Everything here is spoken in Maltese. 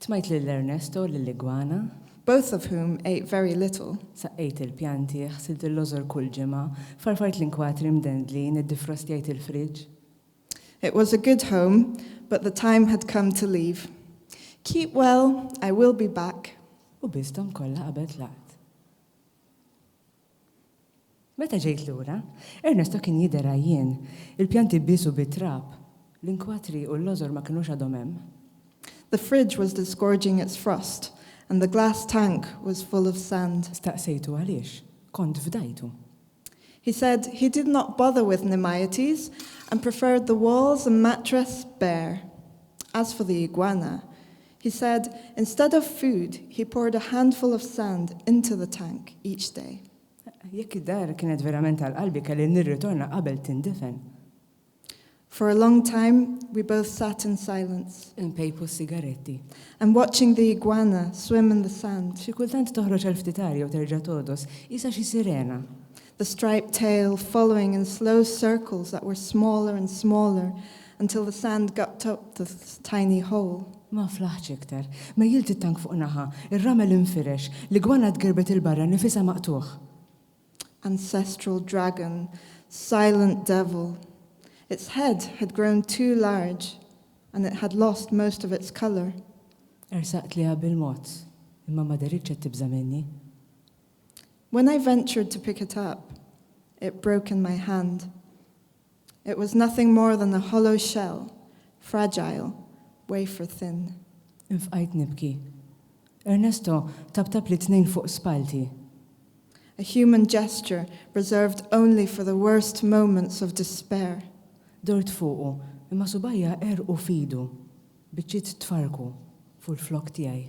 Tmajt lil Ernesto u lill-igwana. Both of whom ate very little. Saqqejt il-pjanti, ħsilt il-lożor kull ġimgħa, farfart l-inkwatri mdendlin, iddifrostjajt il-friġġ. It was a good home, but the time had come to leave. Keep well, I will be back. U biss dawn kollha qabel tlaqt. Meta ġejt lura, Ernesto kien jidher għajjien, il-pjanti biesu bit-trab, l-inkwatri u l-lożor ma kinux għadhom hemm. The fridge was disgorging its frost and the glass tank was full of sand. Staqsejtu għaliex kont fdajtu. He said he did not bother with Nemaites and preferred the walls and mattress bare. As for the iguana, He said, instead of food, he poured a handful of sand into the tank each day. Jekk id-dar kienet verament għal qalbi kelli nirritorna qabel tindefen. For a long time, we both sat in silence. Inpejpu s-sigaretti. And watching the iguana swim in the sand. Xi kultant toħroġ għal ftit aria u terġa' togħdos, qisha xi sirena. the striped tail following in slow circles that were smaller and smaller until the sand got to the tiny hole. Ma flaħtx iktar. Mejjilt it-tank fuq naħa, ir-ramel infirex, l-igwana tgirbet 'il barra nifisha maqtugħ. Ancestral dragon, silent devil. Its head had grown too large and it had lost most of its color. Ersaqt liha bil-mod, imma ma deritx qed tibża' minni. When I ventured to pick it up, it broke in my hand. It was nothing more than a hollow shell, fragile, wafer thin. Infqajt nibki. Ernesto tabtabli tnejn fuq spallti. A human gesture reserved only for the worst moments of despair. Dort fuqu, imma subgħajja għerqu f'idu, biċċiet tfarrku fuq il-flokk tiegħi.